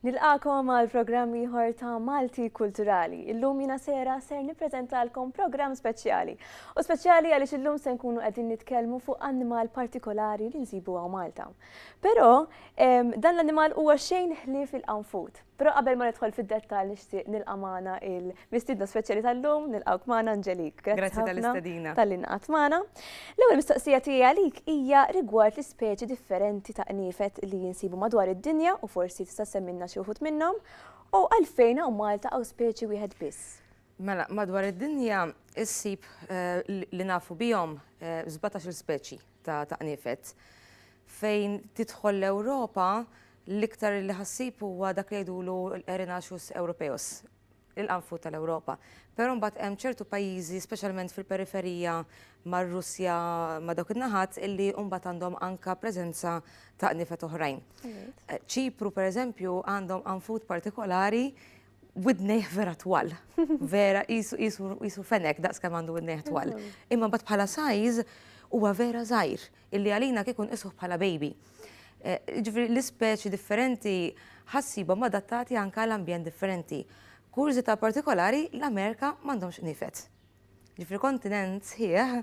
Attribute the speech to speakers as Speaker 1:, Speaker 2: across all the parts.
Speaker 1: Nilqagħkom għal programm ieħor ta' Malti Kulturali. Illum jiena sejra ser nippreżentalkom programm speċjali. U speċjali għaliex illum se nkunu qegħdin nitkellmu fuq annimal partikolari li nsibu għaw Malta. Però dan l-annimal huwa xejn ħlief il-qanfut. Però qabel ma nidħol fid-dettall nixtieq nilqa' magħna il-mistiedna speċjali tal-lum, nilqgħuk magħna Angelique. Grazzi Grazzi ħafna tal-istedina.
Speaker 2: tal-li naqgħet magħna.
Speaker 1: L-ewwel mistoqsija tiegħi għalik hija rigward l-ispeċi differenti ta' qniefet li jinsibu madwar id-dinja u forsi tista' ssemmilna xi wħud minnhom, u għalfejn hawn Malta hawn speċi wieħed biss. Mela, madwar
Speaker 2: id-dinja issib li nafu bihom żbatax-il speċi. ta' ta' qniefet. Fejn tidħol l-Ewropa, l-iktar li ħassib huwa dak li jgħidulu l-Erinaceus europeus, il-qanfud tal-Ewropa. Però mbagħad hemm ċertu pajjiżi, speċjalment fil-periferija mar-Russja, ma' dawk in-naħat, illi mbagħad għandhom anke preżenza ta' qniefet oħrajn. Ċipru, pereżempju, għandhom qanfud partikolari widnejh vera twal. Vera qisu fenek daqs kemm għandu widnejh twal. Imma mbagħad bħala sajz huwa vera żgħir illi għalina kieku nqisuh bħala baby. Eh, ġifri l-ispeċi differenti ħassibhom adattati anke l-ambjent differenti. Kurżità partikolari l-Amerika m'għandhomx nifet. li fil-kontinent sħiħ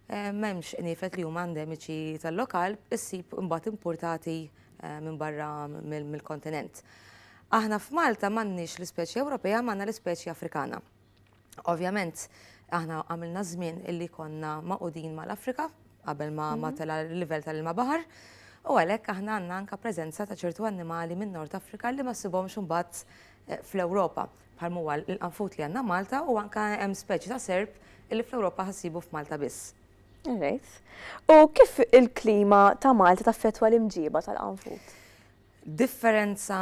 Speaker 2: m'hemmx qniefet li huma endemiċi tal-lokal issib imbagħad importati minn barra mill-kontinent. Aħna f'Malta m'għandniex l-ispeċi Ewropea, m'għandna l-ispeċi Afrikana. Ovvjament, aħna għamilna żmien illi konna maqudin mal-Afrika qabel ma mhm. tela l-livell tal-ilma baħar. U għalhekk aħna għandna anka preżenza ta' ċertu annimali minn Nord Afrika li ma sibhomx imbagħad eh, fl-Ewropa. bħal m'huwa l-qanfut li għandna Malta u anke hemm speċi ta' serp illi fl-Ewropa ħa ssibu f'Malta biss. All right.
Speaker 1: U kif il-klima ta' Malta taffettwa l-imġiba tal-qanfut? Differenza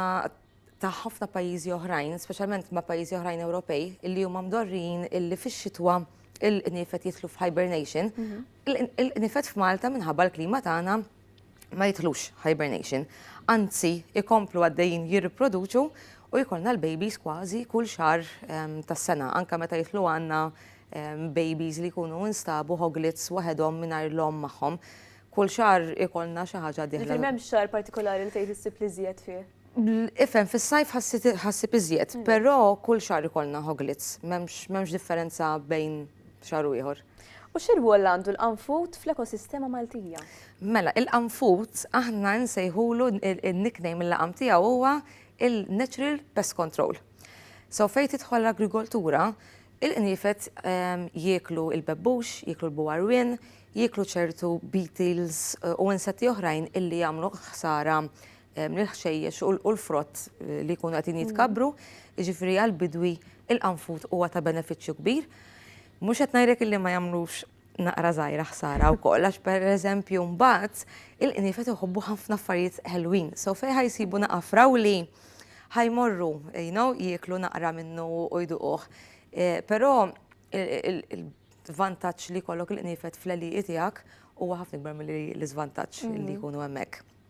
Speaker 2: ta' ħafna pajjiżi oħrajn, speċjalment ma' pajjiżi oħrajn Ewropej, illi huma mdorrin illi fix-xitwa il-qnifet jitlu f'hibernation, mhm. il-qnifet f'Malta minħabba l-klima tagħna ma jidħlux hibernation, anzi ikomplu għaddejjin jirriproduċu u jkollna l-babies kważi kull xar ehm, tas-sena, anka meta jitlu għandna ehm, babies li jkunu instabu hoglits waħedhom mingħajr l-om magħhom. Kull xar ikollna xi ħaġa diħla. Ġifieri m'hemm xar partikolari
Speaker 1: li tgħid issib li żjed fih. Ifhem
Speaker 2: fis-sajf ħassib iżjed, mm. però kull xar ikollna hoglits, m'hemmx differenza bejn xahar u ieħor. U xi rwol
Speaker 1: għandu l-qanfut fl-ekosistema Maltija? Mela,
Speaker 2: il-qanfut aħna nsejħulu n-nickname il-laqam tiegħu huwa il-natural pest control. So fejn tidħol l-agrikoltura, il-qniefet ehm, jieklu il-bebbux, jieklu l-buwarwin, jieklu ċertu beetles eh, u insetti oħrajn illi jagħmlu ħsara l-ħxejjex u l-frott li jkunu qegħdin jitkabbru, jiġifieri għall-bidwi il-qanfud huwa ta' benefiċċju kbir. Mhux qed ngħidlek illi ma jagħmlux naqra żgħira ħsara wkoll għax pereżempju mbagħad il-qniefet iħobbu ħafna affarijiet ħelwin. So fejn ħajsibu naqra frawli ħajmorru you know, jieklu naqra minnu u jduquh. Eh, però il-vantaġġ li jkollok il-qniefet fl-għeliqi tiegħek huwa ħafna ikbar mill-iżvantaġġ li mm. jkunu hemmhekk.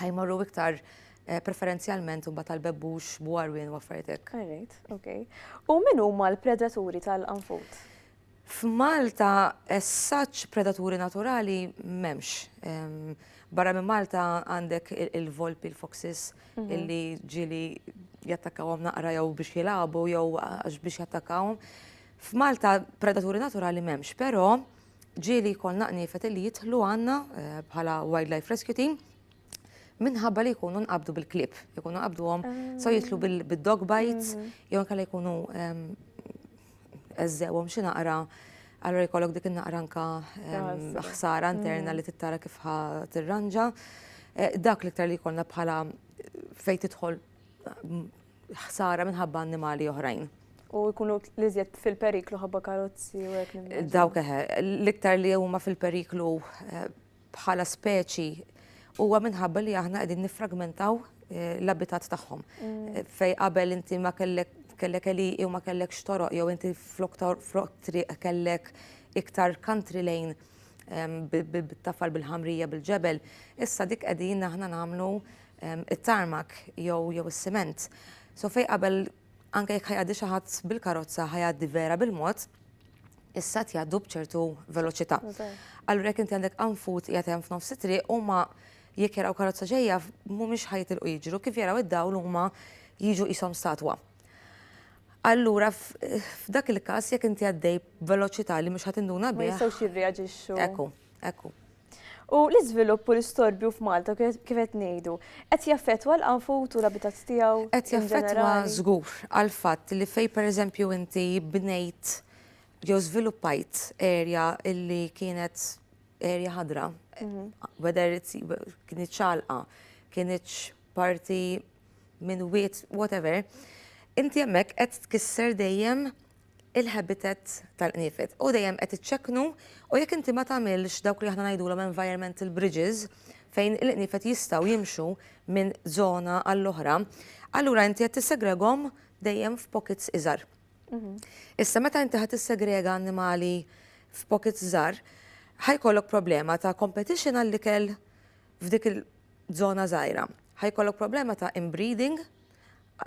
Speaker 2: ħajmorru iktar eh, preferenzjalment imbagħad tal-bebbux, bwarwien u affarijiet hekk. Alright, okay. U
Speaker 1: min huma l-predaturi tal-anfut? F'Malta
Speaker 2: essaċ predaturi naturali m'hemmx. Ehm, barra minn Malta għandek il-volpi, il-foxes, mhm. illi ġili jattakkawhom naqra jew biex jilagħbu jew għax biex jattakkawhom. F'Malta predaturi naturali m'hemmx, però ġieli jkollna qniefet li jidħlu għandna eh, bħala Wildlife Rescue Team minħabba li jkunu nqabdu bil-klib, jkunu nqabduhom so ah. jitlu bil-dog bites, mhm. jew kalla jkunu ehm, eżżewhom xi naqra allora jkollok dik in-naqra anka ehm, ħsara interna mhm. li tittara kif ħa tirranġa. Eh, dak l-iktar li jkollna bħala fejn tidħol ħsara minħabba annimali oħrajn. U jkunu
Speaker 1: l-iżjed fil-periklu ħabba karozzi u hekk nimmaġina. Dawk eħe,
Speaker 2: l-iktar li huma fil-periklu eh, bħala speċi huwa minħabba li aħna qegħdin nifragmentaw eh, l-abitat tagħhom. Mm. Eh, fej qabel inti ma kellek kellek eli u ma kellek xtoroq jew inti flok tor- flok triq kellek iktar country lane em, bi- bi- bit-tafal bil-ħamrija bil-ġebel, issa dik qegħdin aħna nagħmlu it-tarmak jew jew is-siment. So fej qabel anke jekk ħajgħaddi xi ħadd bil-karozza ħajgħaddi vera bil-mod, issa tjgħaddu b'ċertu veloċità. Allura jekk inti għandek anfut qiegħed hemm f'nofs it-triq huma jekk jaraw karozza ġejja mhumiex ħajtilqu jiġru kif jaraw id-dawl huma jiġu qishom statwa. Allura f'dak il-każ jekk inti għaddej veloċità li mhux ħadd induna bih. Ma jistgħux jirreaġixxu.
Speaker 1: Ekku, ekku.
Speaker 2: U
Speaker 1: l-iżvilupp u l-istorbju f'Malta kif qed ngħidu, qed jaffettwa l-qanfut u l-abitat tiegħu? Qed jaffettwa
Speaker 2: żgur għall-fatt li fejn pereżempju inti bnejt jew żviluppajt erja li kienet erja ħadra, whether it's kienet ċagħalqa, kienet parti minn wied, whatever, inti hemmhekk qed tkisser dejjem il-habitat tal-qniefed. U dejjem qed iċċekknu u jekk inti ma tagħmilx dawk li aħna ngħidulhom environmental bridges fejn il-qniefed jistgħu jimxu minn żona għall-oħra, allura inti qed tissegregom dejjem f'pockets iżgħar. Mhm. Issa meta inti ħadd tissegrega annimali f'pockets żgħar, ħajkollok problema ta' competition għall-ikel f'dik il-żona żgħira. Ħajkollok problema ta' inbreeding,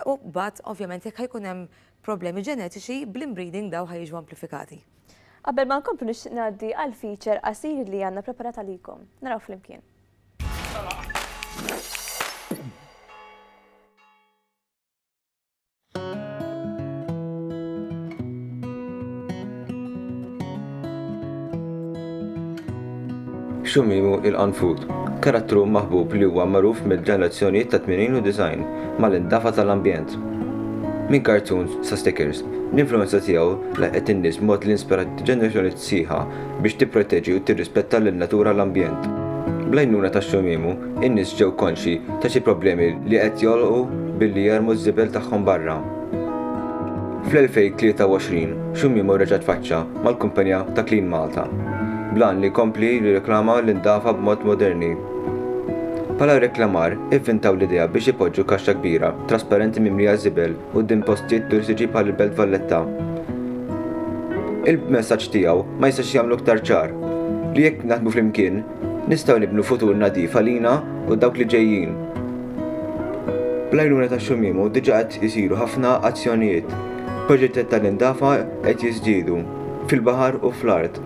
Speaker 2: U mbagħad, ovvjament, jekk ħajkun hemm problemi ġenetiċi, bl-inbreeding dawn ħa jiġu amplifikati. Qabel ma
Speaker 1: nkomplu nixtieq ngħaddi għal feature qasir li għandna preparat għalikom. Naraw flimkien.
Speaker 3: Xumimu il-qanfud. Karattru maħbub li huwa magħruf mill-ġenerazzjonijiet tat-tmenin u disgħin mal-indafa tal-ambjent. Minn cartoons sa stickers, l-influwenza tiegħu laħqet in-nies b'mod li inspirat ġenerazzjonijiet sħiħa biex tipproteġi u tirrispetta lin-natura u l-ambjent. Bl-għajnuna ta' Xumimu, in-nies ġew konxji ta' xi problemi li qed jolqu billi jermu ż-żibel tagħhom barra. Fl-2023, Xumimu reġa' tfaċċa mal-kumpanija ta' Clean Malta, bl-għan li jkompli jirriklama l-indafa b'mod moderni. Bħala riklamar, ivvintaw l-idea biex ipoġġu kaxxa kbira, trasparenti mimlija żibel quddiem postijiet turistiċi bħal il-Belt Valletta. Il-messaġġ tiegħu ma jistax jagħmlu iktar ċar li jekk naħdmu flimkien, Nistgħu nibnu futur nadif għalina u dawk li ġejjin. Bl-għajnuna ta' Xumimu diġà qed isiru ħafna azzjonijiet. Proġettet tal-indafa qed jiżdiedu, fil-baħar u fl-art,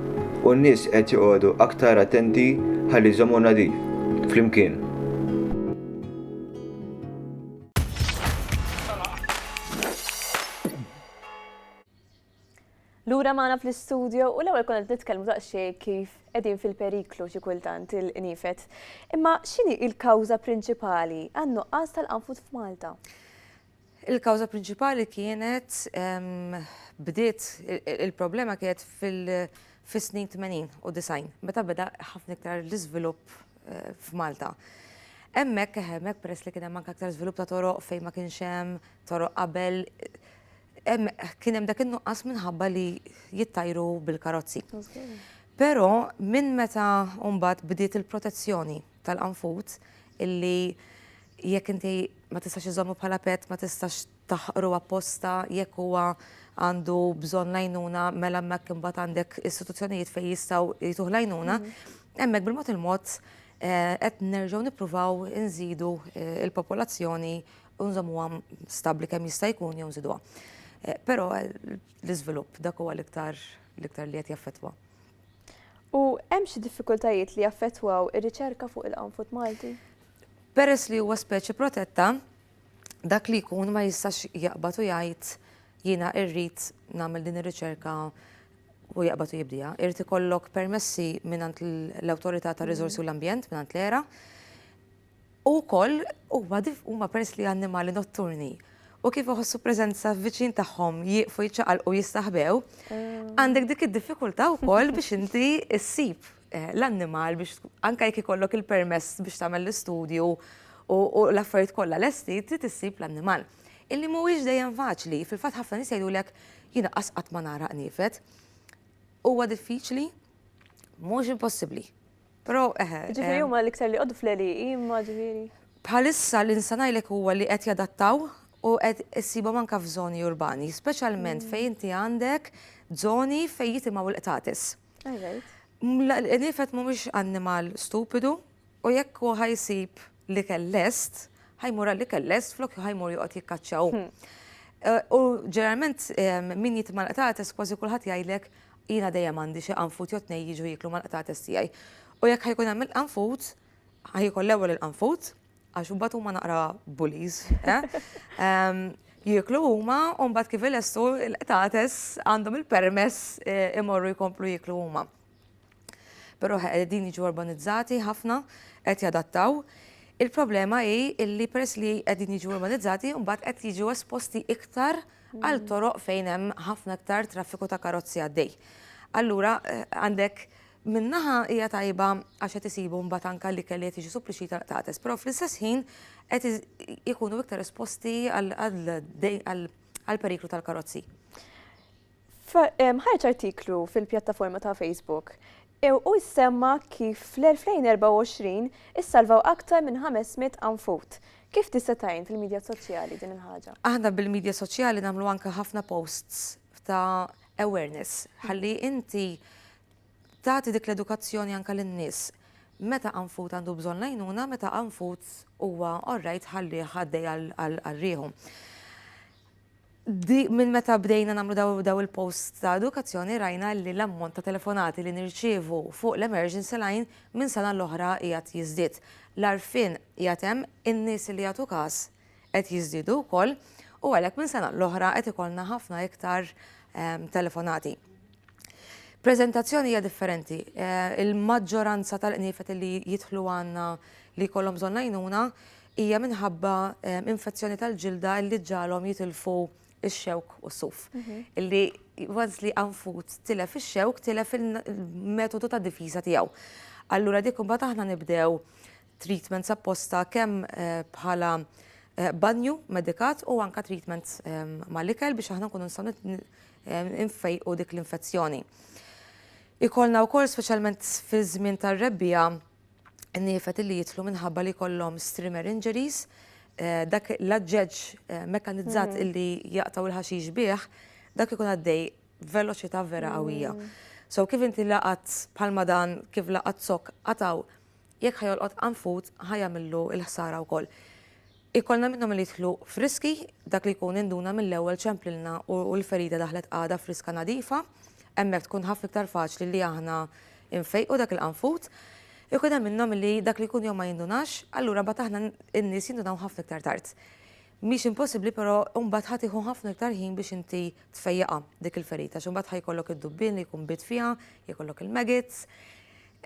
Speaker 3: u n-nies qed joqogħdu aktar attenti ħalli jżommu nadif, flimkien.
Speaker 1: Lura magħna fl-istudio u l-ewwel konna qed nitkellmu daqsxejn kif qegħdin fil-periklu xi kultant il-qniefet. Imma x'inhi l-kawża prinċipali għan-nuqqas tal-qanfud f'Malta?
Speaker 2: Il-kawża prinċipali kienet ehm, bdiet il-problema kienet fis-snin 80 u 90 meta beda ħafna iktar l-iżvilupp eh, f'Malta. Hemmhekk hemmhekk peress li kien hemm anke aktar żvilupp ta' toroq fejn ma kienx hemm toroq qabel Kien hemm dak in-nuqqas minħabba li jittajru bil-karozzi. Però minn meta mbagħad bdiet il-protezzjoni tal-qanfut illi jekk inti ma tistax iżommu bħala pet, ma tistax taħqru apposta, jekk huwa għandu bżonn lajnuna, mela mek imbagħad għandek istituzzjonijiet fejn jistgħu jtuħ lajnuna, mhm. hemmhekk bil-mod il-mod eh, qed nerġgħu nippruvaw inżidu eh, il-popolazzjoni u nżommuha stabbli kemm jista' jkun jew nżiduha. Eh, però l-iżvilupp dak huwa l-iktar l-iktar li qed jaffettwa.
Speaker 1: U hemm xi diffikultajiet li jaffettwaw ir-riċerka fuq il-qanfut Malti? Peress li
Speaker 2: huwa speċi protetta, dak li jkun ma jistax jaqbad u jgħid jiena irrid nagħmel din ir-riċerka u jaqbad u jibdija. Irrid ikollok permessi mingħand l-Awtorità tar-Riżorsi u l-Ambjent mingħand l-era U wkoll huma huma peress li annimali notturni u kif iħossu preżenza viċin tagħhom jieqfu jiċċaqalqu jistaħbew, għandek dik id-diffikultà wkoll biex inti ssib eh, l-annimal biex anke jekk ikollok il-permess biex tagħmel l-istudju u l-affarijiet kollha lesti trid issib l-annimal. Illi mhuwiex dejjem faċli, fil-fatt ħafna nies jgħidulek jiena qasqat ma nara qniefet. Huwa diffiċli,
Speaker 1: mhux impossibbli. Però eħe. Ġifieri
Speaker 2: huma
Speaker 1: l-iktar li jqogħdu fl-għelieqi imma
Speaker 2: ġifieri. Bħalissa li nista' ngħidlek huwa li qed jadattaw u qed issibhom anke f'żoni urbani, speċjalment fejn inti għandek żoni fejn jitimgħu l-qtates. L-għenifed mhumiex annimal stupidu u jekk hu ħa jsib l-ikel lest, ħa jmur għall-ikel lest flok ħa jmur joqgħod jikkaċċaw. U ġeneralment min jitma' l-qtates kważi kulħadd jgħidlek Jiena dejjem għandi xi qanfud jew tnejn jiġu jieklu mal-qtates tiegħi. U jekk ħa jkun hemm il-qanfud, ħa jiekol l-ewwel il-qanfud, għax imbagħad huma naqra bullies, eh? Jieklu huma u mbagħad kif ilestu l-qtates għandhom il-permess eh, imorru jkomplu jieklu huma. Però qegħdin jiġu urbanizzati ħafna qed jadattaw. Il-problema hi illi peress li qegħdin jiġu urbanizzati mbagħad qed jiġu esposti iktar għal toroq fejn hemm ħafna iktar traffiku ta' karozzi għaddej. Allura għandek minnaħa hija tajba għax qed isibu mbagħad anke li kelli qed jiġi supplixxi tal-qtates, però fl-istess ħin qed ikunu iktar esposti għall-periklu tal-karozzi.
Speaker 1: Ħareġ artiklu fil-pjattaforma ta' Facebook u jsemma kif fl-2024 issalvaw aktar minn 500 anfut Kif tista' tgħin fil-midja soċjali din il-ħaġa? Aħna bil-midja soċjali
Speaker 2: nagħmlu anke ħafna posts ta' awareness ħalli inti tagħti dik l-edukazzjoni anke lin-nies meta anfut għandu bżonn lajnuna, meta anfut huwa orrajt ħalli ħaddej għal rieħu. Minn meta bdejna nagħmlu dawn il-posts ta' edukazzjoni rajna li l-ammont ta' telefonati li nirċievu fuq l-emergency line minn sena l-oħra qiegħed jiżdied. L-għarfien qiegħed hemm, in-nies li jagħtu każ qed jiżdiedu wkoll u għalhekk minn sena l-oħra qed ikollna ħafna iktar telefonati. Preżentazzjoni hija differenti. Il-maġġoranza tal-qniefet li jidħlu għandna li jkollhom bżonn l-għajnuna hija minħabba infezzjoni tal-ġilda illi ġġagħalhom jitilfu x-xewk u s-suf. Illi once li anfut tilef ix-xewk, tilef il-metodu ta' difiża tiegħu. Allura dik imbagħad aħna nibdew treatments apposta kemm bħala banju medikat u anka treatment mal-ikel biex aħna nkunu nistgħu nfejqu dik l-infezzjoni. Ikollna wkoll speċjalment fiż-żmien tar-rebbiegħa niefed li jidħlu minħabba li kollhom streamer injuries, eh, dak l-aġġeġġ eh, mekanizzat mm. illi jaqtaw il-ħaxix bih, dak ikun għaddej veloċità vera qawwija. Mm. So kif inti laqat bħalma dan, kif laqat sok qataw, jekk ħajolqot anfut ħajamillu il-ħsara wkoll. Ikollna minnhom li jidħlu friski, dak li jkun induna mill-ewwel ċemplilna u l-ferida daħlet għadha friska nadifa, hemmhekk tkun ħafna iktar faċli li aħna nfejqu dak il-qanfud. Ikun hemm minnhom li dak li jkun jew ma jindunax, allura mbagħad aħna n-nies jindunaw ħafna iktar tard. Mhix impossibbli però mbagħad ħa tieħu ħafna iktar ħin biex inti tfejjaqha dik il-ferita għax imbagħad ħa jkollok id-dubbien li jkun biet fiha, jkollok il-maggots,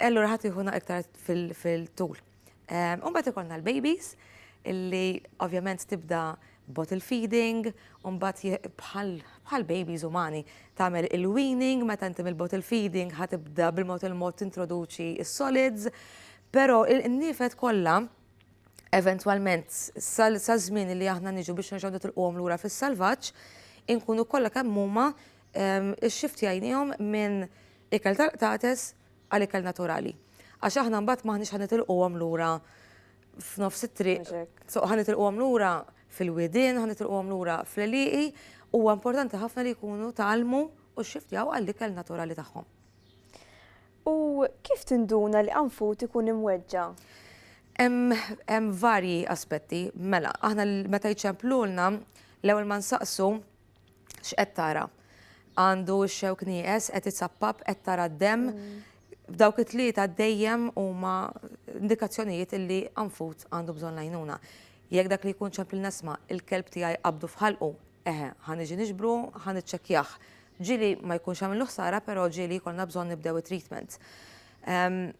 Speaker 2: allura ħa tieħu naqra iktar fil-tul. U mbagħad ikollna l-babies illi ovvjament tibda bottle feeding, u mbagħad bħal babies umani tagħmel il-weaning meta inti mill-bottle feeding ħatibda bil-mod il-mod tintroduċi s-solids, però n-nifed kollha eventwalment sa żmien li aħna niġu biex nerġgħu nitilquhom lura fis-salvaġġ, inkunu kollha kemm huma ix-xiftjajniehom minn ikel tal-qtates, għal ikel naturali. Għax aħna mbagħad m'aħniex ħa nitilquhom lura f'nofs it-triq, so ħa nitilquhom lura fil-widien, ħa nitilquhom lura fl-eliqi, huwa importanti ħafna li jkunu talmu u xxiftjaw għall-ikel naturali tagħhom.
Speaker 1: U kif tinduna li qanfut ikun imweġġa?
Speaker 2: Hemm varji aspetti, mela, aħna meta jċemplulna l-ewwel ma nsaqsu x'qed tara? Għandu x-xewk nieqes, qed itsappab, qed tara d-demm. Dawk it-tlieta dejjem huma indikazzjonijiet illi anfut għandu bżonn lajnuna. Jekk dak li jkun ċempil nesma, il-kelb tiegħi qabdu f'ħalqu, eħe, ħaniġi niġbru, ħaniċċekkjah. Ġieli ma jkunx għamillu ħsara, però ġieli jkollna bżonn nibdew it-treatment. Ehm,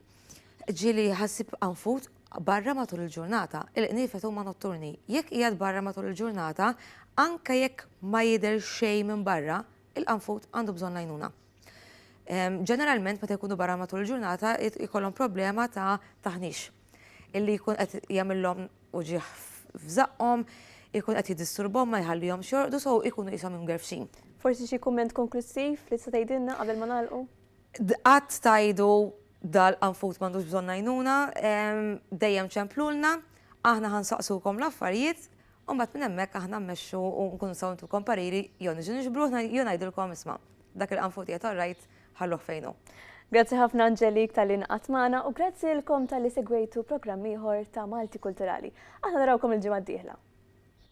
Speaker 2: Ġieli ħassib qanfut barra matul il-ġurnata, il-qniefet huma notturni. Jekk qiegħed barra matul il-ġurnata, anke jekk ma jidher xejn minn barra, il-qanfut għandu bżonn l-għajnuna. Ehm, ġeneralment meta jkunu barra matul il-ġurnata jkollhom problema ta' taħnix illi jkun qed jagħmilhom uġieħ f'żaqqhom, ikun qed jiddisturbhom ma jħallihom xorqdu so ikunu qishom imgerfxin. Forsi xi kumment
Speaker 1: konklussiv li tista' tgħidilna qabel ma nagħlqu? Qatt
Speaker 2: tgħidu dal qanfud m'għandux bżonn għajnuna, dejjem ċemplulna, aħna ħa nsaqsukom l-affarijiet, u mbagħad minn hemmhekk aħna mmexxu u nkunu nistgħu ntukom pariri jew niġu niġbru ruħna jew ngħidilkom isma' dak il-qanfud qiegħed all right ħalluh fejn hu. Grazzi ħafna
Speaker 1: Angelique talli ingħaqadt magħna u grazzi lilkom talli segwejtu programm ieħor ta' Malti Kulturali. Aħna narawkom il-ġimgħa d-dieħla.